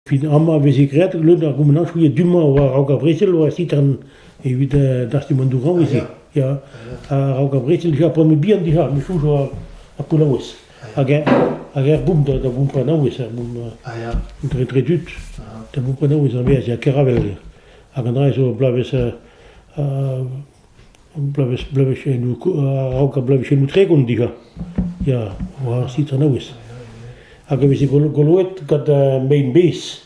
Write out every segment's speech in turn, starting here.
Fin amañ 'veze graet lod ar goumenajoù ya du-mañ war-raok ar brezel war sitern evit dastumañ dourañ e-se ya a-raok ar brezel dija p'on bet bihan dija me soñj war ar kolaouez hag eñ hag er boum da bompañ naouez er boum dre tud da bompañ naouez a vezañ ya Keravel hag an dra zo bloavezh Bloavezhioù a-raok ar bloavezhioù tregont dija ya war ar sitranaouez. Hag e veze goloet gant mein-bez,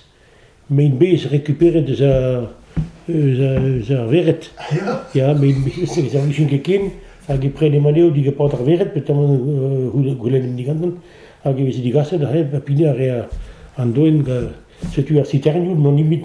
mein-bez rekuperet eus ar vered. Ya, mein-bez e servijont ket ken hag e prenem anezho digapot ar vered petamant goulennomp digantan hag e veze digaset aze ha pinañ a rea an doenn. Setu ar siternioù, n'on nemet